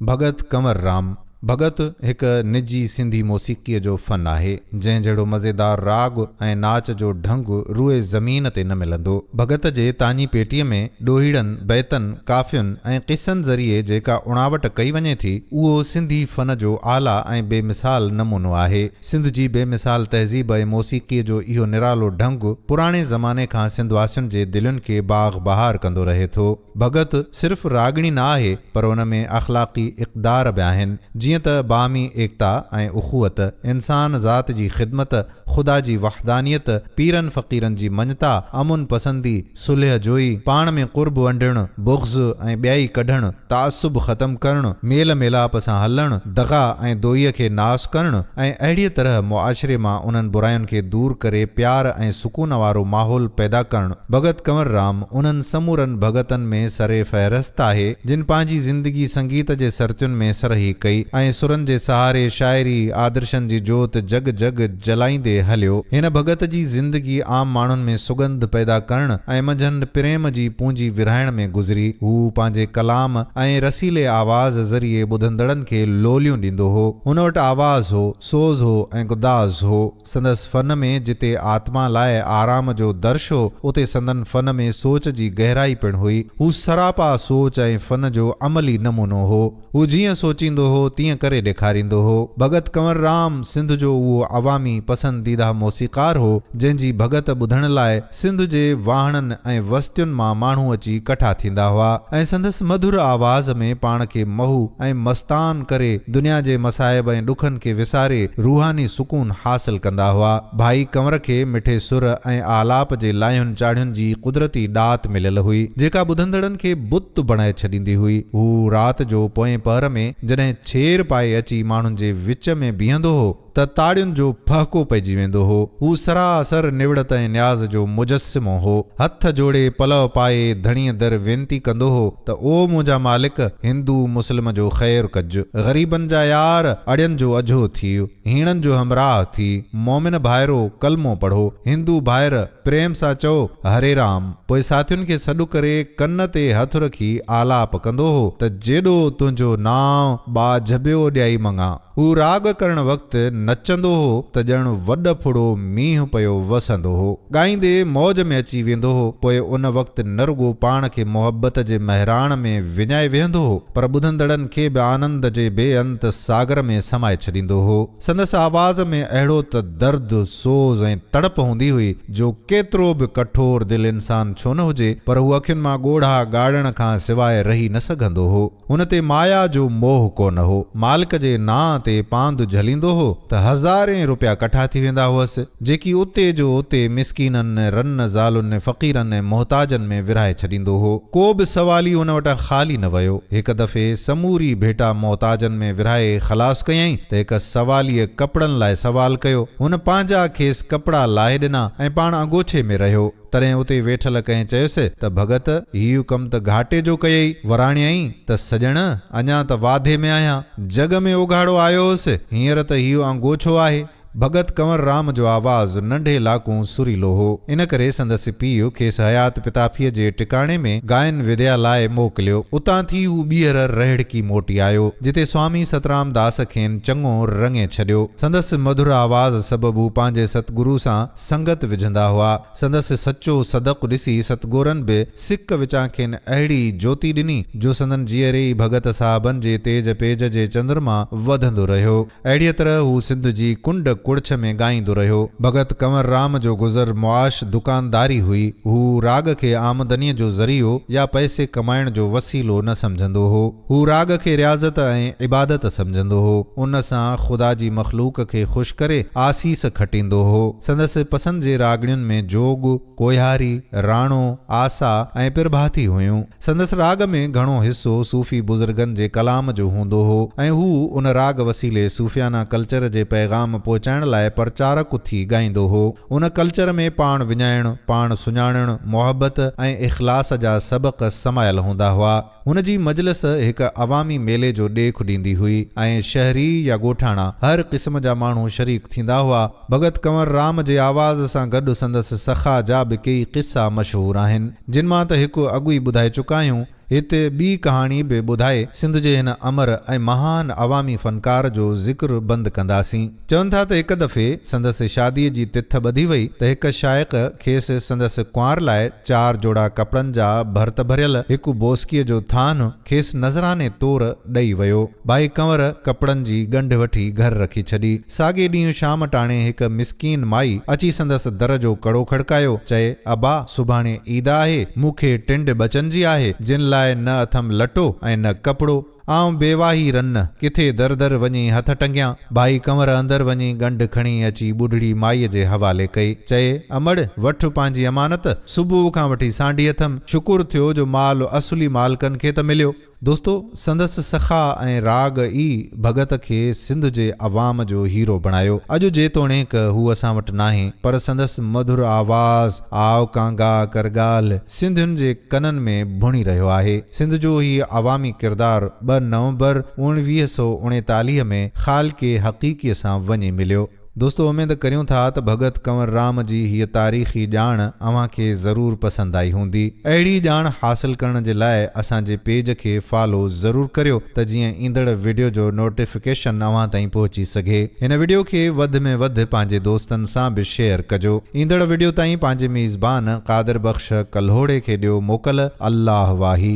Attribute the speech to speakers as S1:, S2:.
S1: ڀڳت ڪنور رام ڀڳت هڪ نجي سنڌي موسيقيء جو فن آهي، جنهن جهڙو مزيدار راڳ ۽ ناچ جو ڍنگ روئي زمين تي نه ملندو. ڀڳت جي تاڃي پيٽيء ۾ ڏوهيڙن، بيتن، ڪافين ۽ قصن ذريعي جيڪا اڻاوٽ ڪئي وڃي ٿي، اهو سنڌي فن جو اعليٰ ۽ بي مثال نمونو آهي. سنڌ جي بي مثال تهذيب ۽ موسيقيء جو اهو نرالو ڍنگ پراڻي زماني کان سنڌواسين جي دلين کي باغ بهار ڪندو رهي ٿو. ڀڳت صرف راڳڻي نه آهي پر ان ۾ اخلاقي اقدار به آهن جيئن ته باهمي ايڪتا ۽ اخوت، انسان ذات جي خدمت، خدا جي وحدانيت، پيرن فقيرن جي مڃتا، امن پسندي، صلح جوئي، پاڻ ۾ قرب ونڊڻ، بغض ۽ ٻيائي ڪڍڻ، تعصب ختم ڪرڻ، ميل ميلاپ سان هلڻ، دغا ۽ دوئيء کي ناس ڪرڻ ۽ اهڙيء طرح معاشري مان انهن براين کي دور ڪري پيار ۽ سڪون وارو ماحول پيدا ڪرڻ. ڀڳت ڪنور رام انهن سمورن ڀڳتن ۾ سر فهرست آهي، جن پنهنجي زندگي سنگيت جي سرتين ۾ سرهي ڪئي ۽ سرن جي سهاري شاعري آدرشن جي جوت جڳ جڳ جلائيندي هليو. هن ڀڳت جي زندگي عام ماڻهن ۾ سڳنڌ پيدا ڪرڻ ۽ منجهند پريم جي پونجي ورهائڻ ۾ گذري. هو پنهنجي ڪلام ۽ رسيلي آواز ذريعي ٻڌندڙن کي لوليون ڏيندو هو. هن وٽ آواز هو، سوز هو ۽ گداز هو. سندس فن ۾ جتي آتما لاء آرام جو درش هو، اتي سندن فن ۾ سوچ جي گهرائي پڻ هئي. هو سراپا سوچ ۽ فن جو عملي نمونو هو. هو جيئن سوچيندو هو، تيئن ڪري ڏيکاريندو هو. ڀڳت ڪنور رام سنڌ جو اهو عوامي پسنديده موسيقار هو، جنهن جي ڀڳت ٻڌڻ لاء، سنڌ جي واهڻن ۽ وستين مان ماڻهو اچي ڪٺا ٿيندا هئا ۽ سندس مڌر آواز ۾ پاڻ کي محو ۽ مستان ڪري دنيا جي مصائب ۽ ڏکن کي وساري روحاني سڪون حاصل ڪندا هئا. ڀائي ڪنور کي مٺي سر ۽ آلاپ جي لاهين چاڙهين جي قدرتي ڏات مليل هئي، جيڪا ٻڌندڙن کي بت بڻائي ڇڏيندي هئي. هو رات جو پوئين پهر ۾ جڏهن ڇير پائي اچي ماڻهن جي وچ ۾ بيهندو هو، ته تاڙين جو ڦهڪو پئجي ويندو هو. هو سراسر نوڙت ۽ نياز جو مجسمو هو. هٿ جوڙي پلئه پائي ڌڻيء در وينتي ڪندو هو ته او منهنجا مالڪ! هندو مسلم جو خير ڪج. غريبن جا يار، اڙين جو اجهو ٿيء. هيڻن جو همراهه ٿيء. مومن ڀائرو! ڪلمو پڙهو. هندو ڀائر! پريم سان چئو، هري رام. پوء ساٿين کي سڏ ڪري ڪن تي هٿ رکي آلاپ ڪندو هو ته جيڏو تنهنجو نانء، ٻاجهه ٻيو ڏيائي مڱان. هو راڳ ڪرڻ وقت نچندو هو ته ڄڻ وڏ ڦڙو مينهن پيو وسندو هو. ڳائيندي موج ۾ اچي ويندو هو. پوء ان وقت نه رڳو پاڻ کي محبت جي مهراڻ ۾ وڃائي ويهندو هو پر ٻڌندڙن کي به آنند جي بي انت ساگر ۾ سمائي ڇڏيندو هو. سندس آواز ۾ اهڙو ته درد، سوز ۽ تڙپ هوندي هئي جو ڪيترو به ڪٺور دل انسان ڇو نه هجي پر هو اکين مان ڳوڙها ڳاڙڻ کان سواء رهي نه سگهندو هو. هن تي مايا جو موهه ڪونه هو. مالڪ جي نانء تي پاند جهليندو هو ته هزارين روپيا ڪٺا ٿي ويندا هئس، جيڪي اتي جو اتي مسڪينن، رن، زالن، فقيرن ۽ محتاجن ۾ ورهائي ڇڏيندو هو. ڪو به سوالي هن وٽان خالي نه ويو. هڪ دفعي سموري ڀيٽا محتاجن ۾ ورهائي خلاص ڪيائين ته هڪ سواليء ڪپڙن لاء سوال ڪيو. هن پنهنجا کيس ڪپڙا لاهي ڏنا ۽ پاڻ اڳوڇي ۾ رهيو. تڏهن اتي ويٺل ڪنهن چيس ته ڀڳت هيء ڪم ته گهاٽي جو ڪيئي، وراڻيائين ته سڄڻ! اڃا ته واڌي ۾ آهيان. جڳ ۾ اوگهاڙو آيو هوس، هينئر ته هيء آنگوڇو آهي. ڀڳت ڪنور رام جو آواز ننڍي لاڪون سريلو هو، ان ڪري سندس پيء کيس حيات پتافيء جي ٽڪاڻي ۾ گائن وديا لاء موڪليو. اتان ٿي هو ٻيهر رهڙڪي موٽي آيو، جتي سوامي سترام داس کين چڱو رڱي ڇڏيو. سندس مڌر آواز سبب هو پنهنجي ستگرو سان سنگت وجهندا هئا. سندس سچو صدق ڏسي ستگورن به سڪ وچان کين اهڙي جوتي ڏني، جو سندن جيئري ئي ڀڳت صاحبن جي تيج پيج جي چندرما وڌندو رهيو. اهڙيء طرح هو سنڌ جي ڪنڊ ڪڙڇ ۾ ڳائيندو رهيو. ڀڳت ڪنور رام جو گذر معاش دڪانداري هئي. هو راڳ کي آمدنيء جو ذريعو يا پئسي ڪمائڻ جو وسيلو نه سمجهندو هو. هو راڳ کي رياضت ۽ عبادت سمجهندو هو. ان سان خدا جي مخلوق کي خوش ڪري آسيس کٽيندو هو. سندس پسند جي راڳڻين ۾ جوڳ، ڪوهياري، راڻو، آسا ۽ پرڀاتي هيون. سندس راڳ ۾ گهڻو حصو صوفي بزرگن جي ڪلام جو هوندو هو ۽ هو ان راڳ وسيلي صوفيانه ڪلچر جي پيغام پهچائڻ لاء پرچارڪ ٿي ڳائيندو هو. ان ڪلچر ۾ پاڻ وڃائڻ، پاڻ سڃاڻڻ، محبت ۽ اخلاص جا سبق سمايل هوندا هئا. هن جي مجلس هڪ عوامي ميلي جو ڏيک ڏيندي هئي ۽ شهري يا ڳوٺاڻا هر قسم جا ماڻهو شريڪ ٿيندا هئا. ڀڳت ڪنور رام جي آواز سان گڏ سندس سخا جا به ڪيئي قصا مشهور آهن، جن مان ته هڪ اڳ ئي ٻڌائي چڪا آهيون. هتي ٻي ڪهاڻي به ٻڌائي سنڌ جي هن امر ۽ مهان عوامي فنڪار جو ذڪر بند ڪنداسين. چون ٿا ته هڪ دفعي سندس شاديء جي تٿ ٻڌي وئي ته هڪ شائق کيس سندس ڪنوار لاء چار جوڙا ڪپڙن جا ڀرت ڀريل هڪ بوسڪيء جو ٿانو کيس نذراني طور ڏئي ويو. ڀائي ڪنور ڪپڙن جي ڳنڍ وٺي گهر رکي ڇڏي. ساڳئي ڏينهن شام ٽاڻي هڪ مسڪين مائي اچي سندس در جو ڪڙو کڙڪايو، چئي، ابا! سڀاڻي عيد آهي، مون کي ٽنڊ ٻچن جي آهي، جن لاء نه اٿم لٽو ۽ نه ڪپڙو. آئون بيواهي رنّ ڪٿي در در وڃي هٿ ٽنگيان. ڀائي ڪنور اندر وڃي ڳنڍ کڻي اچي ٻڍڙي مائيء جي حوالي ڪئي. چئي، امڙ! وٺ پنهنجي امانت. صبح کان وٺي سانڍي اٿم. شڪر ٿيو جو مال اصلي مالڪن کي ته مليو. دوستو! سندس سخا ۽ راڳ ئي ڀڳت کي سنڌ جي عوام جو هيرو بڻايو. اڄ جيتوڻيڪ هو اسان وٽ ناهي، پر سندس مڌر آواز، آء ڪانگا ڪر ڳالهه، سنڌين جي ڪنن ۾ ڀڻي رهيو آهي. سنڌ جو هي عوامي ڪردار ٻه نومبر اوڻويهه سؤ اڻيتاليهه ۾ خالق حقيقي سان وڃي مليو. دوستو اميد ڪريون ٿا ته ڀڳت ڪنور رام جي هيء تاريخي ڄاڻ اوهان کي ضرور پسند آئي هوندي. اهڙي ڄاڻ حاصل ڪرڻ جي لاء اسان جي پيج کي فالو ضرور ڪريو ته جيئن ايندڙ وڊيو جو نوٽيفڪيشن نوٽيفڪيشن اوهان تائين پهچي سگهي. هن وڊيو کي وڌ ۾ وڌ پنهنجي دوستن سان به شيئر ڪجو. ايندڙ وڊيو تائين پنهنجي ميزبان قادر بخش ڪلهوڙي کي ڏيو موڪل. الله واهي.